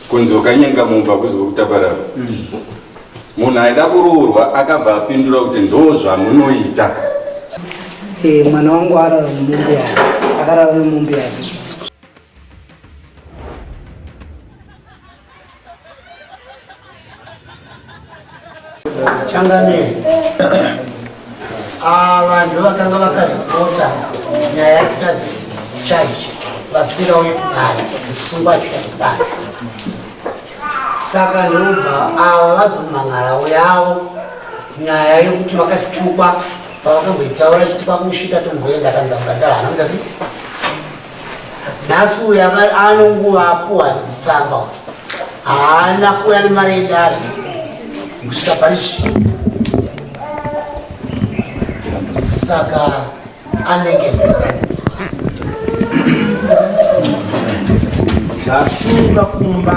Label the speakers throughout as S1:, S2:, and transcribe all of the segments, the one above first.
S1: kunzi ukanyenga munhu pakuzwa kutaparara mm. munhu aida kuroorwa akabva apindura kuti ndo zvamunoita
S2: eh, mwana wangu arara nemombe yake akarara nemombe yake
S3: changamire ah, vanhu vakanga vakaripota nyaya yatikazoti discharge vasira uye kudai kusungwa chika kudai saka ndobva ava vazomhan'aravo yavo nyaya yekuti vakatukwa pavakamboitaura chiti kwakusvika tomboenda kanza mukagara hana mutasi nhasi uyu ano nguva apuwa kutsamba haana kuuya nemari yedare kusvika parishi saka anenge
S4: zvasunga kumba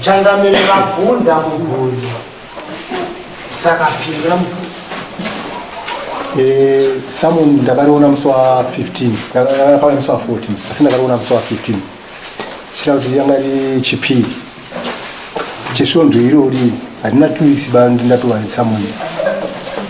S3: changamire vabvunza mubvunzo saka pindura mubvunzo
S5: eh, samu ndakariona musi wa 15 ndakariona musi wa 14 asi ndakariona musi wa 15 chita kuti yanga ri chipiri chesvondo irori handina tuisi bandindatova samuni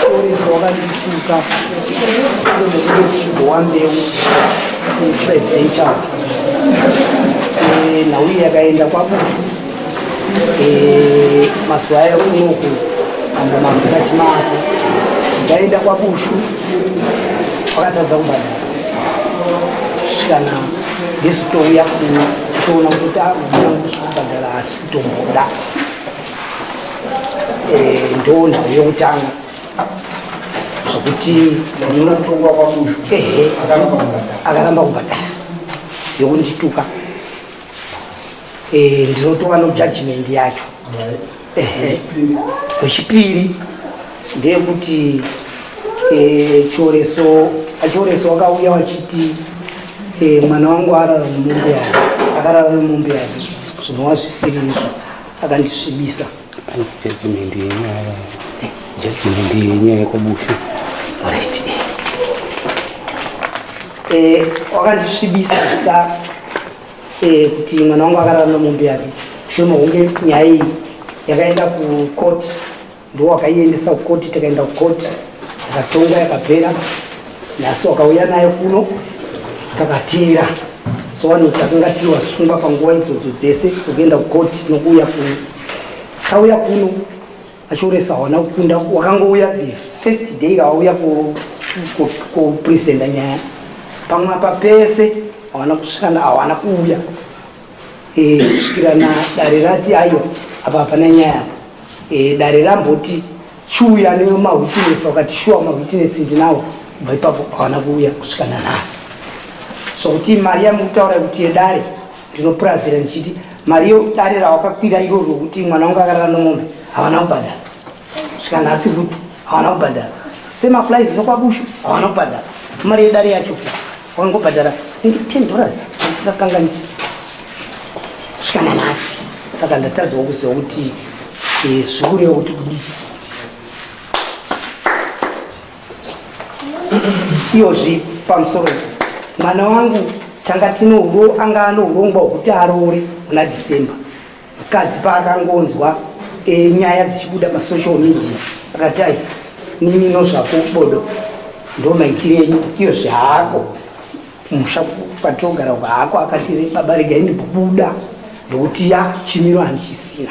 S2: Chorizo wakandituka ndokuchibowa mbeu presidential eh, nhau iyi yakaenda kwabushu eh, mazuva ayo unoku amba makusati mako ndaenda kwabushu wakatadza kubhadhara kusvikana ndizitouya kuona kuti akuda kubhadhara asi kutomboda eh, ndo nhau yokutanga zvokuti
S4: akaramba
S2: kubhadhara yokundituka eh, ndinotova nojudgment yacho wechipiri ndeyekuti eh, chioreso achioreso wakauya wachiti mwana wangu arara mumombe yake akarara mumombe yake zvinova zvisiri izvo akandisvibisa judgment
S6: yenyaya judgment yenyaya yekwabufi right eh
S2: wakandisvibisa zita eh kuti mwana wangu akarara nomombe yake shono hunge nyaya iyi yakaenda kucourt ndiwo wakaiendesa kukoti tikaenda kukoti akatonga yakapera nhasi wakauya nayo kuno takateera so vanhu takanga tiri vasungwa panguva idzodzo dzese dzokuenda kukoti nokuuya kuno tauya kuno achiuresa hawana kukunda wakangouya the first day awauya kupresenta nyaya pamwe apa pese hawana kusvikana hawana kuuya eh, kusvikira na dare rati aiwa apa hapana nyaya apa Eh, dare ramboti chiuya nemawitness wakati shuwa mawitness ndinawo bva ipapo hawana kuuya kusvika nanhasi sokuti mari yamukutaura kuti yedare ndinopurazira ndichiti mari yedare rawakakwira iro rokuti mwana wangu akarara nomombe hawana kubhadhara svika nhasi futi hawana kubhadhara semaplies nokwakushu hawana kubhadhara mari yedare yacho futi Wakangobhadhara inge 10 dollars ndisingakanganisi kusvika nanhasi, saka ndatadzawo kuziva kuti eh, zvikureva kuti kudii. Iyozvi pamusoro mwana wangu tanga tino uro anga ano urongwa hwekuti aroore muna December Mukadzi paakangonzwa e, nyaya dzichibuda pasocial media akati ai nini nozvako bodo ndo maitire enyu iyo zvaako musha kwatogara uko hako akatire baba regai ndibuda ndokuti ya chimiro handichisina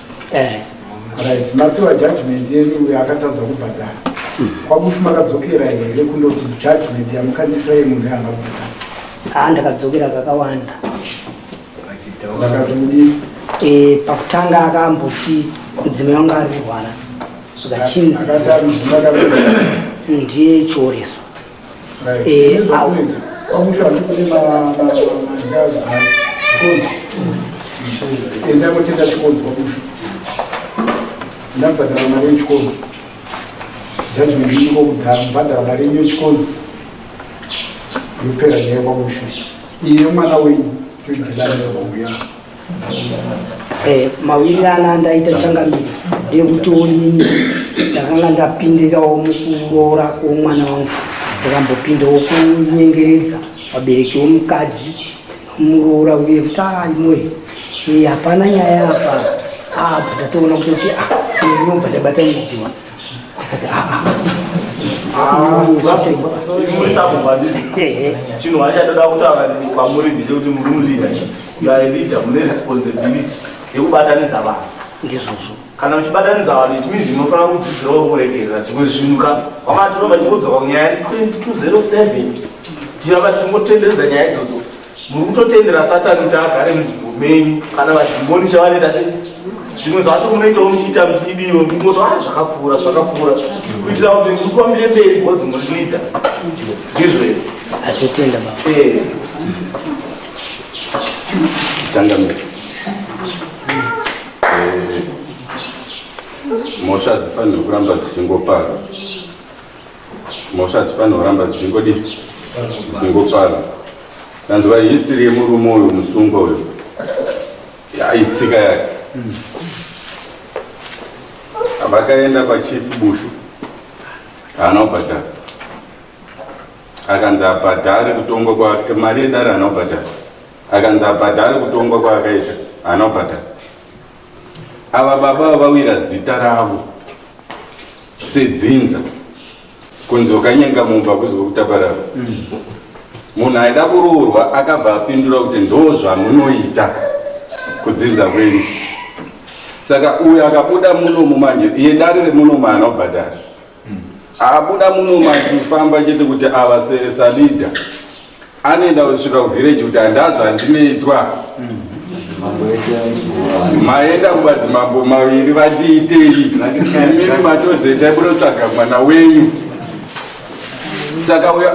S4: eh. right mapiwa judgment yenu uyo akatadza kubhadhara kwamushu makadzokera here kundoti judgment yamukandipa ye munhu yaana kubhadhara haa ah, ndakadzokera
S2: kakawanda ndakatodi
S4: eh, pakutanga
S2: akamboti mudzimai wanga ari kurwara zvikachinzi ndiye chioreso
S4: Eh, enda kotenga chikonzi kwamusha ndakubhadhara mari yechikonzi judgment iko kudhara kubhadhara mari yenyu yechikonzi yopera nyaya kwamusha iye mwana wenyu toidhilaa kwamuya
S2: Eh, mawiri ana andaita changamire yekuti onini ndakanga ndapindirawo mukuroora kwomwana wangu ndakambopindawo kunyengeredza vabereki womukadzi muroora uye kuti aimoye ah, eh, hapana nyaya apa apa ah, ndatoona kutoti ah, ndinobva ndabata mudziwa
S7: chinhu hachatoda kutaura kwamuri ndizve kuti muri muleadership you are a leader mune responsibility yekubatanidza vanhu ndizvozvo
S2: kana muchibatanidza
S7: vanhu it means munofanira kudzidzirawo kuregerera zvimwe zvinhu ka wamati unoba ndingodzoka kunyaya 2207 tiramba tichingotenderedza nyaya idzodzo muri kutotendera satani kuti agare munzvimbo menyu kana vadhimoni chavanoita se zvimwe zvacho munoitawo muchiita muchidiwa mumoto a ah, zvakapfuura zvakapfuura kuitira kuti muri kufambire mberi because muri leader ndizvo izvo atotenda
S2: eh.
S1: changamire eh, mhosva hadzifanire kuramba dzichingopara mhosva dzifanirwa kuramba dzichingodi dzingopara tanzwa history yemurume uyu musungwa uyu yaitsika yake vakaenda kwachief bushu haana kubhadhara akanzi abhadhare kutongwa kwake mari yedare haana kubhadhara akanzi abhadhare kutongwa kwaakaita haana kubhadhara Ava baba vawira zita ravo sedzinza kunzi ukanyanga mumba kuzi kutaparara mm. munhu aida kuroorwa akabva apindura kuti ndo zvamunoita kudzinza kwenyu saka uyo akabuda munomu manje iye dare remunomu haana kubhadhara mm. abuda munomu achifamba chete kuti avaseresalida anoenda kusvika kuvhireji kuti handazva ndinoitwa maenda kumadzimambo maviri vatiitei imimi matodzeta munotsvaga mwana wenyu saka uyo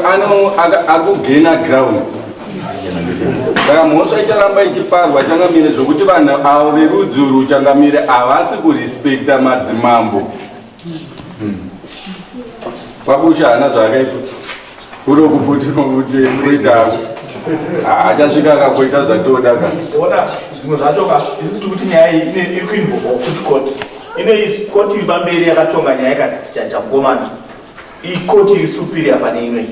S1: akugena ground saka mhosva icharamba ichiparwa changamire zvokuti vanhu avo verudzi uru changamire havasi kurespekta madzimambo Kwabusha hana zvaakaita kuri kufuti kuti kuita achasvika akakoita zvatoda ka ona zvimwe zvacho
S7: ka isi tiri kuti nyaya iyi ine iri kuinvolva kuti koti ine isi koti iri pamberi yakatonga nyaya ikati sichanja mukomana iyi koti iri superior pane imwe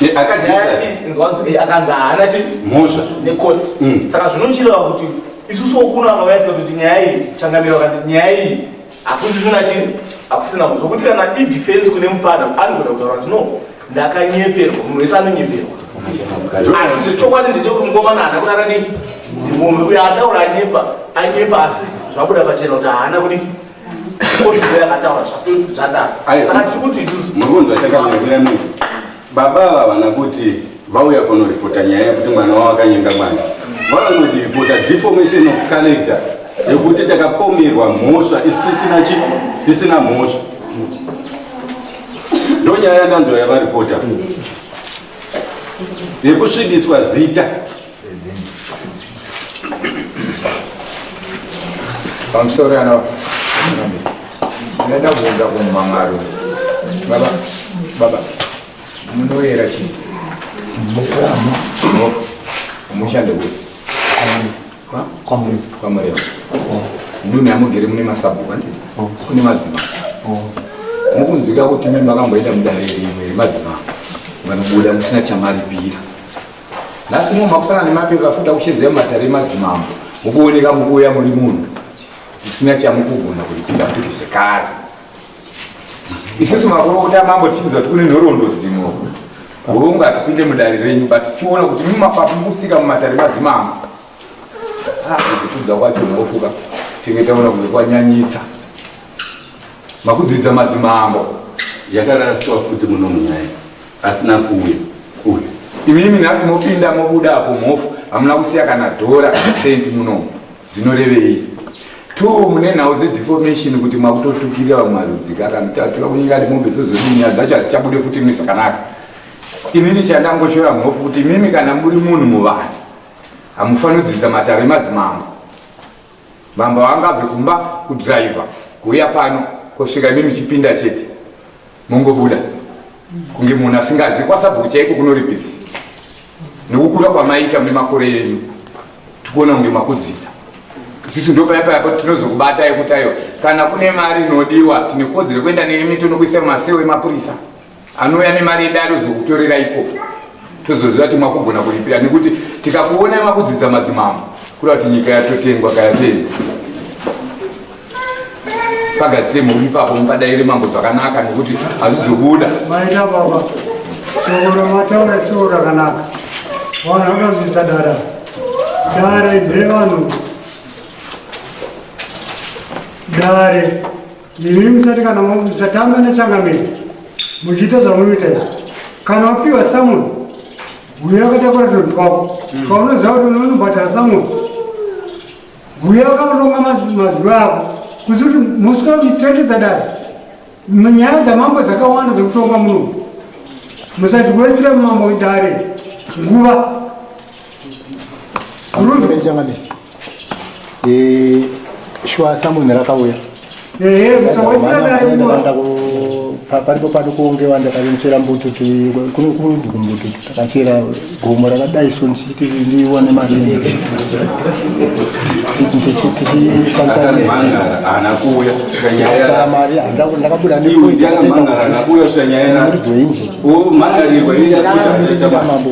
S7: Ye, nyaya akadisa iyi inzwanzo iyi akanzi haana chi mhosva
S1: nekoti Mm.
S7: saka zvinochireva kuti isusu okuno akavaitika kuti nyaya iyi changamiro vakati nyaya iyi hakusisina chii hakusina mu zvokuti kana idefense kune mupfana anogona kutaura kuti no ndakanyeperwa munhu wese anonyeperwa asi chokwadi ndechekuti mukomana haana kurara nei munhu uyo ataura anyepa anyepa asi zvabuda pachena kuti haana kudi kodii akataura zvatadaka saka tiri kuti isusu
S1: Baba ava havana kuti vauya kunoripota nyaya yekuti mwana wavo akanyenga mwana, vanonodipota deformation of character yekuti takapomerwa mhosva isi tisina chi tisina mhosva ndonyaya yandanzwa yavaripota yekusvibiswa zita
S8: I'm sorry, Anna. Nenda kuenda kumba mwaro. Baba, baba. Munoyera chii? Mukama. Mofu. Mushande kuri. Kwa murema. Kwa murema. Ndune amugere mune masabhuku anditi? Oh. Kune madzima. Oh. Mukunzwika kuti mimi makamboenda mudariro imwe remadzima. Vanobuda musina chamaripira. nhasi uno makusangana nemapepa afuta kushedzera mumatare emadzimambo mukuoneka mukuuya muri munhu musina chamukugona kuripinda futi zvekare isusu makurokota mambo tichinzwa kuti kune nhoroondo dzimwe hongu hatipinde mudare renyu but tichiona kuti mumapapu mukusika mumatare madzimambo kutudza ah, kwacho unofuka tenge taona kunge kwanyanyitsa makudzidza madzimambo yakaraswa
S1: futi munomunyaya asina kuuya kuuya imimi nhasi
S8: mopinda mobuda apo mhofu hamuna kusiya kana dhora kana sendi munomu zvinorevei two mune nhau dzedeformation kuti makutotukirira vamwe marudzi kakanotatura kunyika ati mombe dzozodii nyaya dzacho hadzichabude futi mune zvakanaka inini chandangoshora mhofu kuti imimi kana muri munhu muvanhu hamufaniri kudzidzisa mataro emadzimambo mambo vangabve kumba kudriver kuuya pano kosvika imimi chipinda chete mongobuda kunge munhu asingazivi kwasabhuku chaiko kunoripira nekukura kwamaita mune makore enyu tikuona kunge makudzidza isusu ndo paya paya tinozokubata yekuti ayo kana kune mari inodiwa tine kodzero kuenda neyemito nokuisa masewo emapurisa anouya nemari yedare ozokutorera ikoko tozoziva kuti makugona kuripira nekuti tikakuonai makudzidza madzimambo kureva kuti nyika yatotengwa kayapei pagadzise mhuri ipapo mupadaire mambo zvakanaka nekuti hazvizobuda maita
S9: baba sokoro mataura soko rakanaka vanhu vakazodzidza dara dare dzere vanhu dare Imi musati kana musatamba nechangamire muchiita zvamunoita izvi. Kana wapiwa samoni huya wakatakura tunhu twako twaunoziva kuti unonobhadhara samoni huya wakaronga maz- mazwi ako kuzi kuti musi wakuitendedza dare nyaya dzamambo dzakawanda dzekutonga muno musatiwestira mambo dare nguva
S5: Eh, shuwa samunhu rakauya
S9: paripo
S5: pano kuongewa ndakatochera mbututu kunokurudzwa mbututu takachera gomo rakadai so ndichiti ndione maringe
S1: mari
S5: ndakabuda nemuridzi
S1: weinjini
S5: mambo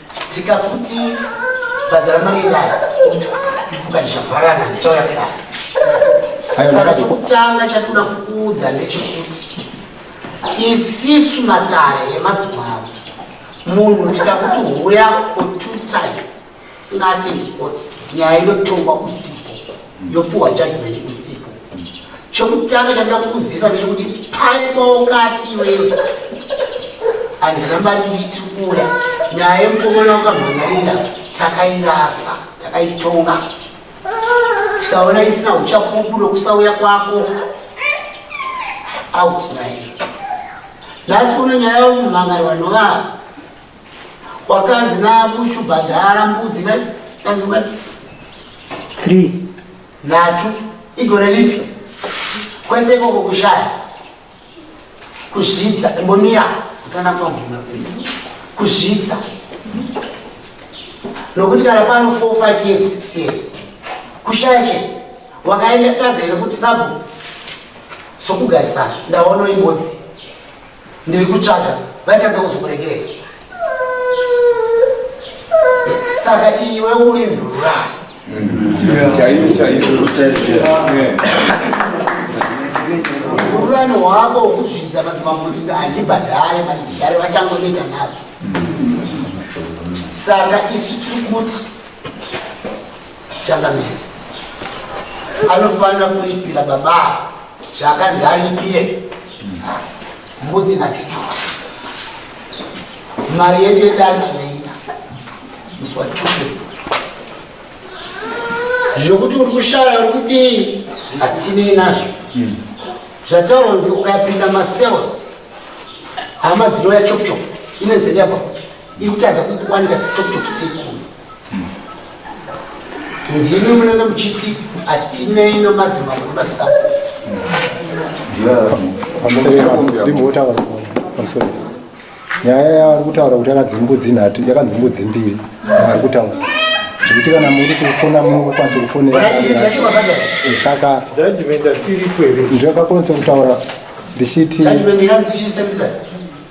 S3: tikakuti bhadhara mari yedare ukati zvavharana ndichauya kudare saka chokutanga chatinoda kukuudza ndechekuti isisu matare emadzimavo munhu tikakuti huya for two times singati ndikoti nyaya inotongwa usiku yopuwa judgment usiku chokutanga chandida kukuzivisa ndechekuti paipawo kati iwewe handina mari nditi kuuya nyaya yemukomana wakamhangarira takairasa takaitonga tikaona isina uchapupu nokusauya kwako out nyaya nhasi uno nyaya yomumhangari vanovaa wakanzi namushu bhadhara mbudzi three
S2: nhatu
S3: igore ripi kwese ikoko kushaya kuzvidza imbomira usana kwaguma kuzvidza nokuti kana pano four five years six years kushaya che wakaenda tadza here kuti sabhu sokugarisana ndaona imbodzi Ndiri kutsvaga vaitadza kuzokuregerera. Saka iwe uri ndurura. Chaiyo chaiyo chaiyo. Ururani hwako hwekuzvidza madzimambo kuti handibhadhare mari dzigare vachangonoita nazvo. Saka isu tiri kuti changamire anofanira kuripira baba zvakanzi aripire mbudzi nachuchu mari yedu yedari tinoida muswachuke zvokuti uri kushaya uri kudii hatinei nazvo hmm. zvataura nzi ukapinda masales hama dzinouya chokuchoku ine zeyabva ikutadza kukuwanika chokuchoku sekuyo ndimi munenge muchiti hatinei nomadzimambo
S5: nemasaka nyaya yavari kutaura kuti yakanzi mbudzi nhatu yakanzi mbudzi mbiri yavari kutaura zvekuti kana muri kufona munokwanisa kufonera saka ndiyakakwanisa kutaura ndichiti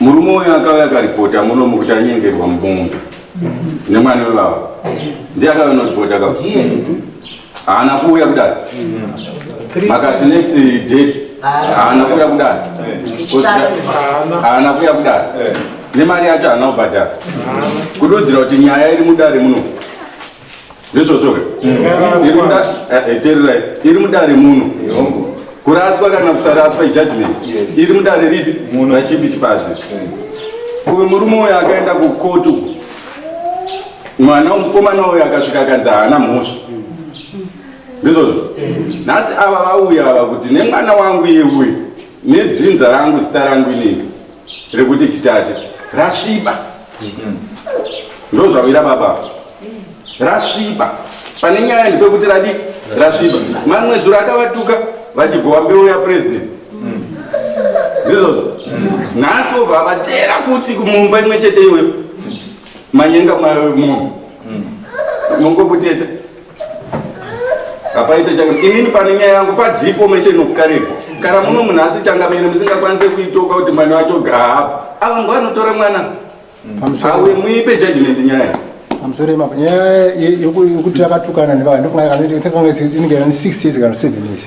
S1: Murume uyu akauya akaripota muno mukuti anyengerwa mumunda nemwana wevavo ndiye akauya noripota ka haana kuuya kudai makati next date haana kuuya kudai haana kuuya kudai nemari yacho haana kubhadhara kududzira kuti nyaya iri mudare muno ndizvozvoka tererai iri mudare muno kuraswa kana kusaraswa ijudgment iri mudare ripi rachipi chipadzi uyu murume uyo akaenda kukotu mwana mukomana uyo akasvika akanzi haana mhosva ndizvozvo nhasi ava vauya ava kuti nemwana wangu iye uyu nedzinza rangu zita rangu inini rekuti chitate rasviba ndozvawira baba rasviba pane nyaya ndipekuti radi rasviba mamwe zuro akavatuka vachibhowa mbeu yapresident ndizvozvo nhasi obva avatera futi kumumba imwe chete iyoyo manyenga mayo munhu mongokuteta apaite changa inini pane nyaya yangu padeformation of curricle kana muno munhu asi changamene musingakwanise kuitoka kuti mwana wacho gaapa ava ngo anotora mwana awe muipe judgment nyaya pamusoro yemako nyaya
S5: yekuti akatukana nevaa ndofunga inenge ane six years kana seven years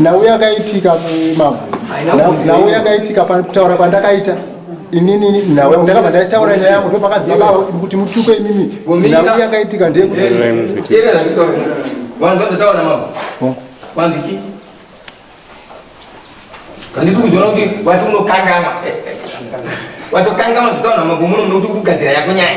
S5: nhau yakaitika mama nhau yakaitika kutaura kwandakaita inini nhau yangu ndakabva ndaitaura nyaya yangu ndopakanzi baba kuti mutuke imimi nhau yakaitika ndeyekuti
S10: kandidi kuzoona kuti wati unokangama watokangama zvitaura mambo muno muno kuti urikugadzira yako nyaya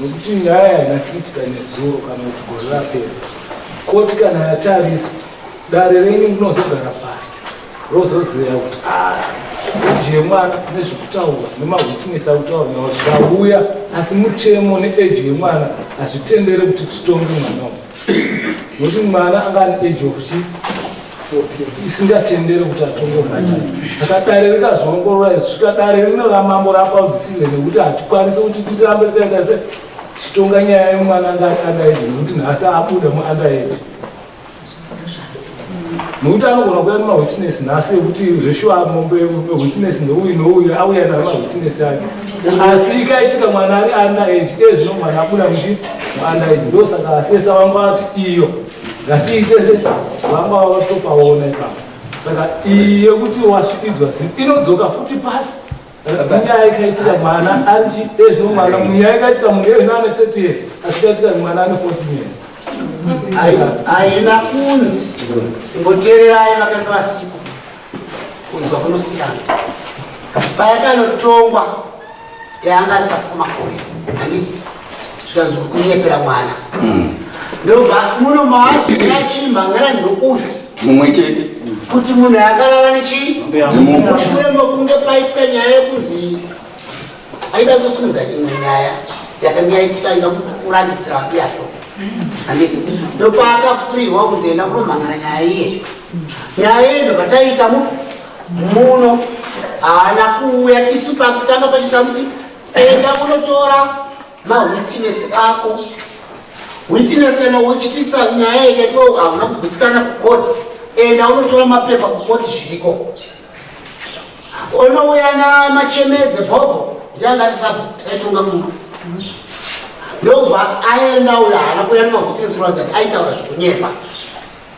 S4: nokuti nyaya haina kuitika nezuro kana kuti gore rapera koti kana yatarisa dare renyu rinozogara pasi rozozeya kuti eji yemwana nezvekutaura nemahwitness akutaura nawo zvikauya asi mutemo neeji yemwana hazvitendere kuti titonge mwana uyu nokuti mwana anga ane age of chi isingatendere kuti atonge mwana saka dare rikazviongorora izvi svika dare rino ramambo rapa dzisize nekuti hatikwanisi kuti tirambe tikaita se tichitonga nyaya yemwana anga ari underage nekuti nhasi abuda muunderage nokuti anogona kuya nemawitness nhasi ekuti zveshuwa mombe witness neuyu nouyu auya nayo mawitness ake asi ikaitika mwana ari under age e zvino mwana abuda kuti under age ndo saka asesa vangu vati iyo ngatiitese vangu vava vatopaona ipapo saka iyi yekuti wasvikidzwa zii inodzoka futi pati munyaya yakaitira mwana ari chiezvino mwana munyaya yakaitira munhu iye ane 30 years asikaitira mwana ane 14 years haina
S3: kunzi ngotererai vakanga vasipo kunzwa kunosiyana payakanotongwa yaanga ari pasi pamakore handiti zvikanzi kunyepera mwana hmm. ndobva muno maazi yachimba ngana ndokusho mumwe chete
S1: kuti munhu
S3: akarara nechii mushure mokunge paitwa nyaya yekunzi aida kusunza imwe nyaya yakanga yaitika aida kurandidzira vake yacho handiti ndopaakafurirwa kunzi enda kunomhangana nyaya iye nyaya iye ndobva taiita muno haana kuuya isu pakutanga pachitira kuti enda kunotora mawitness ako witness kana wochititsa nyaya ikaitwa hauna kugutsikana kukoti enda unotora mapepa kukoti zviriko unouya namachemedze bhobho ndiangarisabho aitonga muma ndobva aendaula haana kuya nemawitness rwadzati aitaura zvekunyepa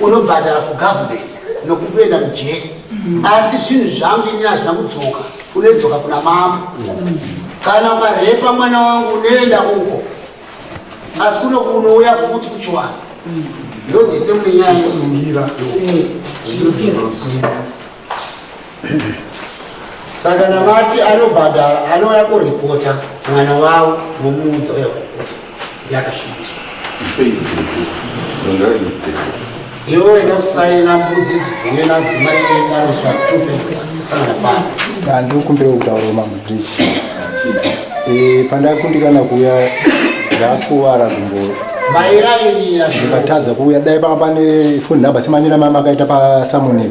S3: unobhadhara kugovernment nokukuenda kujeri asi zvinhu zvangu ini hazvina kudzoka unedzoka kuna mambo kana ukarepa mwana wangu unoenda uko asi kuno kunouya futi kuchiwana zvinodise mune nyaya saka navati anobhadhara anouya kuripota mwana wavo nomuunza uya kuripota yakasvibiswa iwo enda kusaina mbudzi dzigune nadzimaidariswa tufekusangana pano kandi ukumbira
S5: kutaura mamudrisi eh, pandakundikana kuuya ndakuvara kumbo
S3: ndikatadza kuuya
S5: dai panga pane foni number semanyira mama akaita pasamonei